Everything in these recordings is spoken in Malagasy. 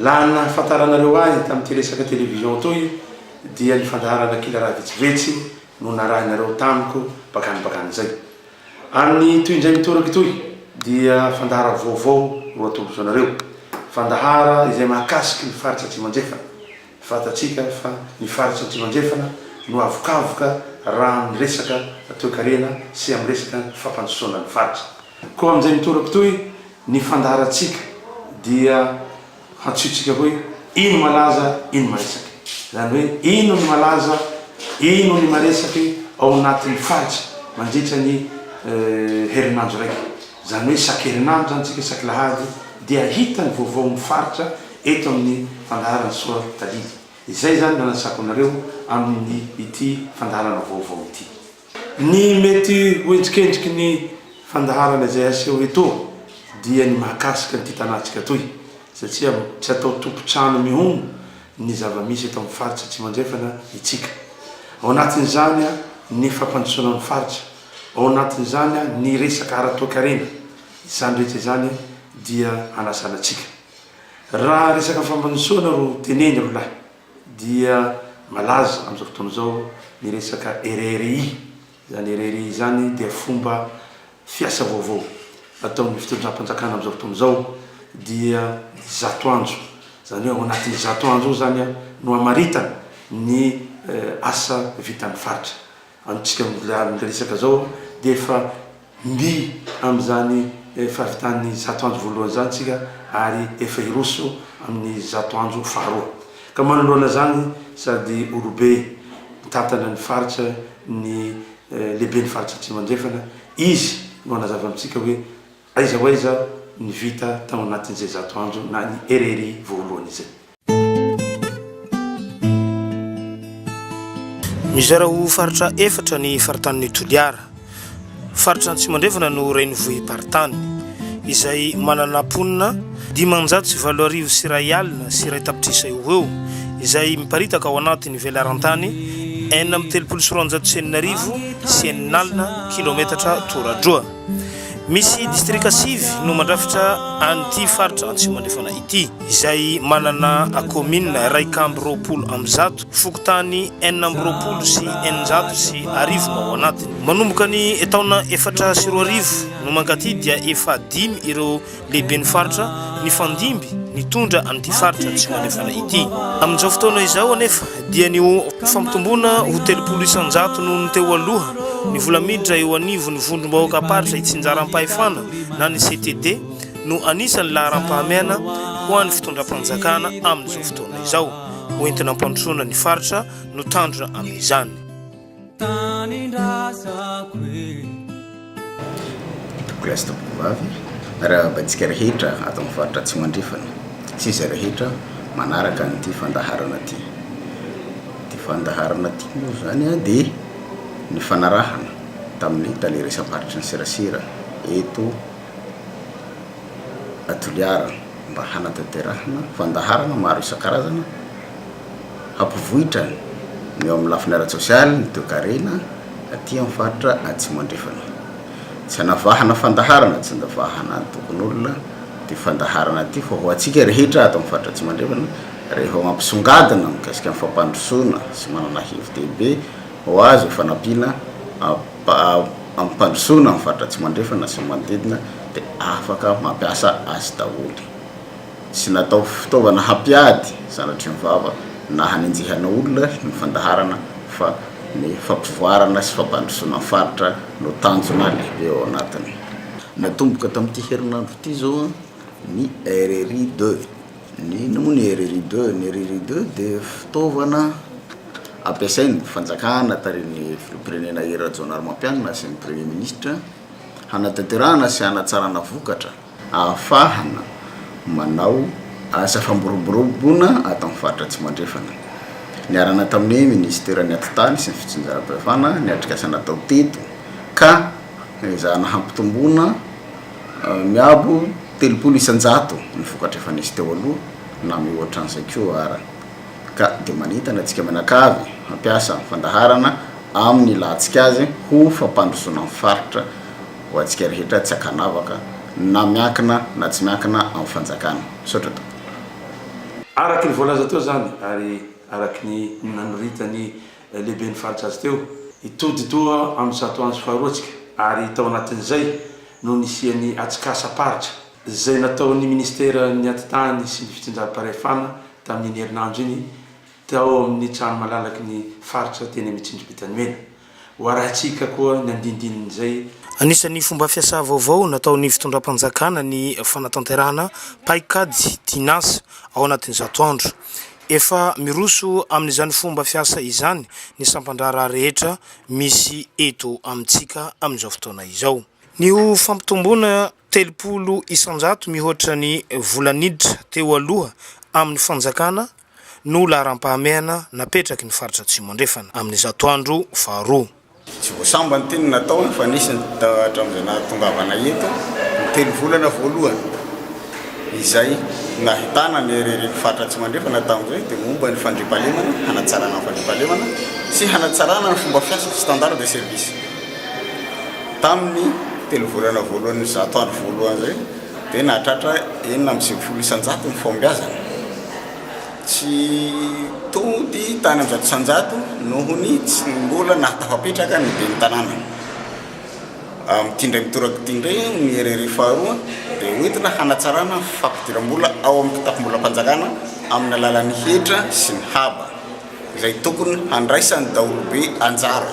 Laha ny nahafantaranareo ahy tamin'ity resaka télévision toy dia ny fandaharana kila raha vetsivetsy no narahinareo tamiko bakany bakany izay. Amin'ny toy indray mitoraka itoy dia fandahara vaovao no atolotr'anareo. Fandahara izay mahakasiky ny faritra Atsimo-Andrefana. Fantatsika fa ny faritra Atsimo-Andrefana no avokavoka raha amin'ny resaka toekarena sy amin'ny resaka fampandrosoana ny faritra. Koa amin'izay mitoraka itoy Ny fandaharantsika dia hantsihontsika hoe ino malaza ino maresake. Izany hoe ino ny malaza ino ny maresake ao anatin'ny faritra mandritra ny herinandro raika. Izany hoe isan-kerinandro izany tsika isaky lahady dia hahita ny vaovaon'ny faritra eto amin'ny fandaharan'i Soa Tadidy. Izay izany no anasako anareo amin'ny ity fandaharana vaovao ity. Ny mety ho endrikendriky ny fandaharana izay aseho eto dia ny mahakasika an'ity tanàntsika toy satria tsy atao tompon-trano mihono ny zava-misy eto amin'ny faritra Atsimo Andrefana itsika. Ao anatin'izany ny fampandrosoana ny faritra, ao anatin'izany ny resaka ara-toekarena, izany rehetra izany dia hanasana antsika. Raha resaka fampandrosoana ro teneny roalahy. dia malaza amin'izao fotoana izao ny resaka RRI. Izany RRI izany dia fomba fiasa vaovao ataon'ny fitondram-panjakana amin'izao fotoana izao, dia zato andro, izany hoe ao anatin'ny zato andro io izany no hamaritana ny asa vitan'ny faritra. Amintsika mbola amin'ny resaka izao dia efa mby amin'izany fahavitan'ny zato andro voalohany izany isika ary efa hiroso amin'ny zato andro faharoa. Ka manoloana izany sady olobe mitantana ny faritra ny lehiben'ny faritra Atsimo Andrefana, izy no hanazava amintsika hoe. Aiza ho aiza ny vita tao anatin'izay zato andro na ny RRI voalohany izay? Mizara ho faritra efatra ny faritanin'i Toliara. Faritra Antsimondrahefana no renivohi-paritany, izay manana mponina dimanjato sy valo arivo sy iray alina sy iray tapitrisa eo ho eo, izay miparitaka ao anatin'ny velarantany enina amby telopolo sy roanjato sy enina arivo sy enina alina kilaometatra toradroa. Misy distrika sivy no mandrafitra an'ity faritra Antsimonefana ity, izay manana kaominina iraika amby roapolo amby zato, fokontany enina amby roapolo sy eninjato sy arivo no ao anatiny. Manomboka ny taona efatra sy roa arivo no mankaty dia efa dimy ireo Lehiben'ny faritra nifandimby nitondra an'ity faritra Atsimo Andrefana ity. Amin'izao fotoana izao anefa dia ny fampitomboana ho telopolo isan-jato noho ny teo aloha ny vola miditra eo anivon'ny vondrom-bahoakam-paritra itsinjaram-pahefana na ny CTD no anisan'ny laharampahamehana ho an'ny fitondram-panjakana amin'izao fotoana izao ho entina hampandrosoana ny faritra no tandrina amin'izany. tanindrazako e Toko gasy tovovavy arahabantsika rehetra ato amin'ny faritra Atsimo Andrefana sy izay rehetra manaraka an'ity fandaharana ity. Ity fandaharana ity moa izany dia nifanarahana tamin'ny tale resa-paritry ny serasera eto Toliara mba hanatanterahana fandaharana maro isan-karazana hampivoitra ny eo amin'ny lafiny ara-tsosialy, ny toekarena aty amin'ny faritra Atsimo Andrefana. Tsy anavahana fandaharana, tsy andavahana antokon'olona ity fandaharana ity fa ho antsika rehetra ato amin'ny faritra Atsimo Andrefana rehefa mampisongadina mikasika ny fampandrosoana sy manana hevi-dehibe ho azo io fanampiana amim-pandrosoana ny faritra Atsimo Andrefana sy ny manodidina dia afaka mampiasa azy daholo. sy natao fitaovana hampiady zanatry ny vava na hanenjehana olona ny fandaharana fa ny fampivoarana sy fampandrosoana ny faritra no tanjona lehibe ao anatiny. Natomboka tamin'ity herinandro ity izao ny RRI deux. Inona moa ny RRI deux? Ny RRI deux dia fitaovana ampiasain'ny fanjakana tarihin'ny filoham-pirenena Hery Rajaonarimampianina sy ny Premier Ministra hanatanterahana sy hanatsarana vokatra. ahafahana manao asa fampiroborobona ato amin'ny faritra Atsimandrefana. Niarahana tamin'ny minisiteran'ny Atitany sy ny Fitsinjaram-pahefana ny atrikasa natao teto ka ezahana hampitomboana miabo telopolo isan-jato ny vokatra efa nisy teo aloha na mihoatra an'izay koa ara ka dia manentana antsika mianakavy hampiasa ny fandaharana amin'ny lahatsika azy ho fampandrosoana ny faritra ho antsika rehetra tsy ankanavaka na miankina na tsy miankina amin'ny fanjakana. Misaotra tompoko. Araky ny voalaza teo izany ary araky ny nanoritan'ny lehiben'ny faritra azy teo, hitody toa amin'ny zato andro faharoa tsika ary tao anatin'izay no nisian'ny atsikasam-paritra izay nataon'ny minisiteran'ny Atitany sy ny fitsinjaram-pahefana tamin'iny herinandro iny tao amin'ny trano malalaky ny faritra teny amin'ny Tsindribitany Mena Ho arahintsika koa ny andindinin'izay. Anisan'ny fomba fiasa vaovao nataon'ny fitondram-panjakana ny fanatanterahana paikady Tinasa ao anatin'ny zato andro. Efa miroso amin'izany fomba fiasa izany ny sampan-draharaha rehetra misy eto amintsika amin'izao fotoana izao. Ny ho fampitomboana telopolo isan-jato mihoatra ny vola niditra teo aloha amin'ny fanjakana no laharam-pahamehana napetraky ny Faritra Atsimo Andrefana amin'izato andro faharoa. Tsy voasambany ity no nataony fa nisy ny hatramin'izay nahatongavana eto, ny telo volana voalohany izay nahitana ny heriheren'ny Faritra Atsimo Andrefana tamin'izay dia momba ny fandriampahalemana, hanatsarana ny fandriampahalemana sy hanatsarana ny fomba fiasa, standard de service, tamin'ny telo volana voalohan'izato andro voalohany izay. dia nahatratra enina amby sivifolo isan-jato ny fahombiazana, tsy tody tany amin'ny zato isan-jato noho ny tsy mbola nahatafapetraka ny ben'ny tanàna. Amin'ity indray mitoraka ity indray ny RRI faharoa dia hoentina hanatsarana ny fampidiram-bola ao amin'ny kitapom-bolam-panjakana amin'ny alalan'ny hetra sy ny haba izay tokony handraisan'ny daholobe anjara.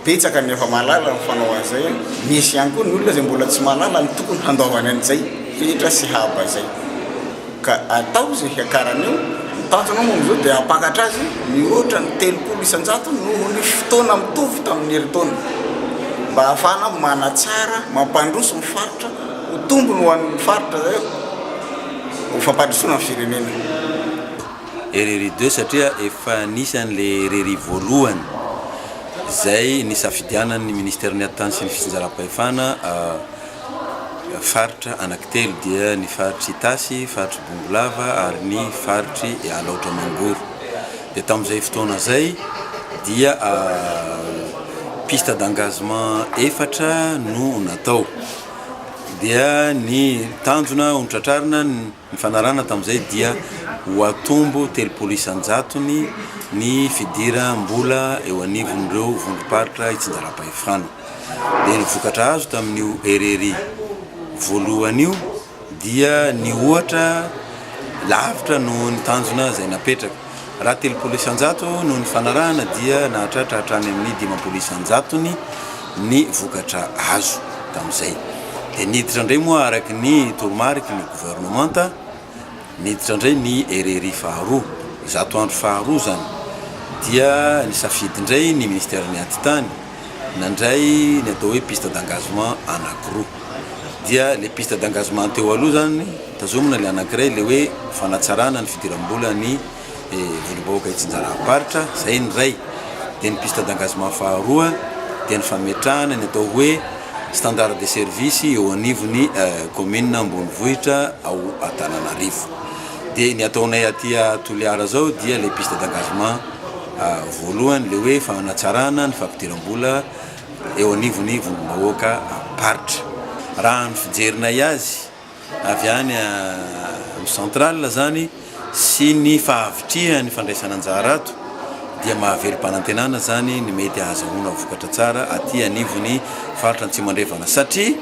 betsaka ny efa mahalala ny fanao an'izay an! misy ihany koa ny olona izay mbola tsy mahalala ny tokony handaovany an'izay fetra sy haba izay ka atao izay hiakarany eo, ny tanjona moa amin'izao dia hampakatra azy mihoatra ny telopolo isan-jato noho ny fotoana mitovy tamin'ny herintaona mba hahafahana manatsara, mampandroso ny faritra, ho tombony ho an'ny faritra izay eo, ho fampandrosoana ny firenena. RRI deux satria efa nisy an'le RRI voalohany izay nisafidianan'ny Ministeran'ny Hattany sy ny Fitsinjaram-pahefana faritra anankitelo dia ny faritr'i Itasy, faritr'i Bongolava ary ny faritr'i Alaotra Mangoro. Dia tamin'izay fotoana izay dia piste d'engagement efatra no natao. Dia ny tanjona ho tratrarina ny. Ny fanarahana tamin'izay dia ho atombo telopolo isan-jatony ny fidiram-bola eo anivon'ireo vondrom-paritra itsinjaram-pahefana. Dia ny vokatra azo tamin'io RRI voalohany io dia nihoatra lavitra noho ny tanjona izay napetraka. Raha telopolo isan-jato no nifanarahana dia nahatratra hatrany amin'ny dimampolo isan-jatony ny vokatra azo tamin'izay. Dia niditra indray moa araka ny toromariky ny governemanta, niditra indray ny RRI faharoa, zato andro faharoa izany, dia nisafidy indray ny Ministeran'ny Atitany, nandray ny atao hoe piste d'engagement anankiroa. Dia ilay piste d'engagement teo aloha izany, tazomina ilay anankiray, ilay hoe fanatsarana ny fidiram-bola ny Vondrom-bahoaka Itsinjaram-paritra, izay ny iray. Dia ny piste d'engagement faharoa dia ny fametrahana ny atao hoe standard de service eo anivon'ny kaominina ambonivohitra ao Antananarivo. Dia ny ataonay aty a Toliara zao dia le piste d'engagement voalohany le hoe fanatsarana ny fampidiram-bola eo anivon'ny vondrom-bahoaka am-paritra. Raha ny fijerinay azy avy any amin'ny central zany sy ny fahavitrihan'ny fandraisana anjara ato dia mahavelom-panantenana zany ny mety ahazahoana vokatra tsara aty anivon'ny faritra Antsimo Andrefana satria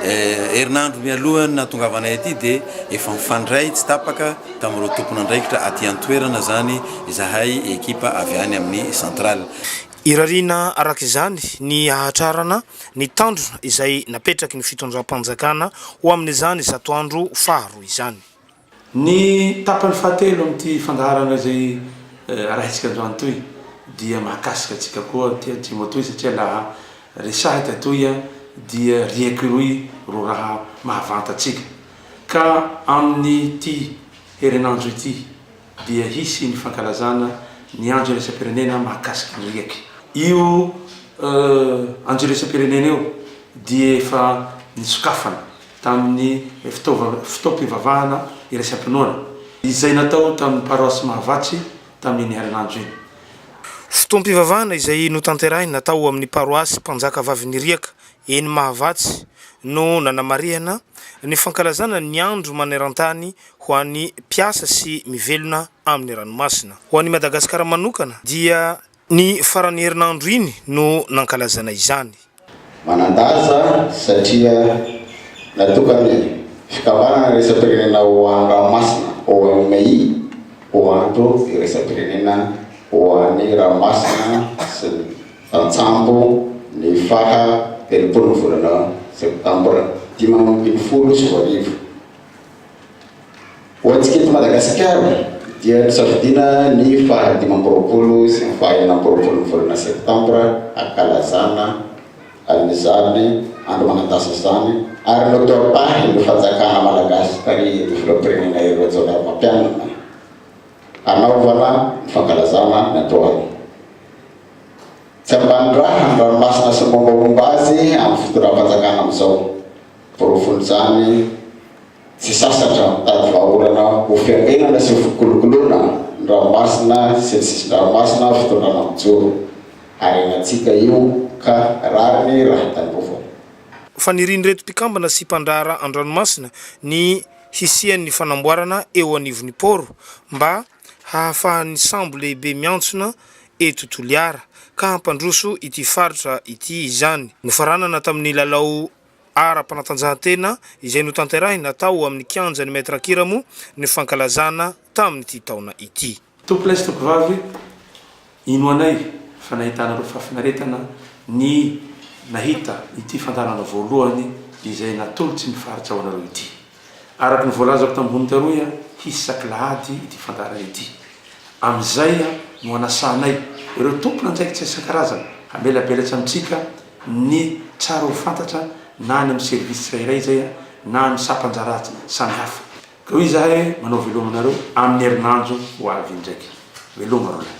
Herinandro mialohan'ny nahatongavanay aty dia efa mifandray tsy tapaka tamin'ireo tompon'andraikitra aty an-toerana izany izahay ekipa avy any amin'ny centrale. Irariana araka izany ny hahatrarana ny tanjona izay napetraky ny fitondram-panjakana ho amin'izany zato andro faharoa izany. Ny tapany fahatelo amin'ity fandaharana izay arahintsika androany itoy dia mahakasika antsika koa ity antsimo itoy satria laha resahika itoy dia riaky roy ro raha mahavanta antsika ka amin'ity herinandro ity dia hisy ny fankalazana ny andro iraisam-pirenena mahakasika ny riaky. Io andro iraisam-pirenena io dia efa nisokafana. tamin'ny fotoam-pivavahana iraisam-pinoana, izay natao tamin'ny Paroasy Mahavatsy tamin'iny herinandro iny. Fotoam-pivavahana izay notanterahina tao amin'ny Paroasy Mpanjaka Vavin'Iriaka eny Mahavatsy no nanamarihana ny fankalazana ny Andro maneran-tany ho an'ny mpiasa sy mivelona amin'ny ranomasina. Ho an'i Madagasikara manokana dia Ny faran'ny herinandro iny no nankalazana izany. Manan-danja satria natokan'ny fikambanana iraisam-pirenena ho an-dranomasina, OMI, ho andro iraisam-pirenena ho an'ny ranomasina sy ny tantsambo ny faha telopolo ny volana septambra dimy ambin'ny folo sy roa arivo. Ho antsika eto Madagasikara dia nosafidiana ny faha dimy amby roapolo sy ny faha enina amby roapolo ny volana septambra hankalazana an'izany andro manan-dasa izany ary notoapahin'ny fanjakana malagasy tarihin'ny filoham-pirenena Hery Rajaonarimampianina hanaovana ny fankalazana ny androany tsy ambanin-drahany ranomasina sy ny mombamomba azy amin'ny fitondram-panjakana amin'izao Porofon'izany, tsy sasatra ny mitady vahaolana ho fiambenana sy ho fikolokoloana ny ranomasina sy ny sisin-dranomasina fitondrana mijoro. Harenantsika io ka rariny raha tandrovana. Fanirian'ireto mpikambana sy mpandraharaha an-dranomasina ny hisian'ny fanamboarana eo anivon'ny poro mba hahafahan'ny sambo lehibe miantsona eto Toliara ka hampandroso ity faritra ity izany. Nofaranana tamin'ny lalao ara-panatanjahantena izay notanterahina tao amin'ny kianjan'ny Maître Akiramo ny fankalazana tamin'ity taona ity. Tompolahy sy tompovavy, inoanay fa nahitanareo fahafinaretana ny nahita ity fandaharana voalohany izay natolotsy ny faritra ho anareo ity. Araka ny voalazako tamin'ny vonon-karoy, hisy sakilahady ity fandaharana ity. Amin'izay no hanasahanay ireo tompon'andraikitra isan-karazany hamelabelatra amintsika ny tsara ho fantatra na any amin'ny service tsirairay izay na amin'ny sampan-draharaha samy hafa. Ka hoy izahay hoe manao veloma anareo amin'ny herinandro ho avy indraika. Veloma roa lahy.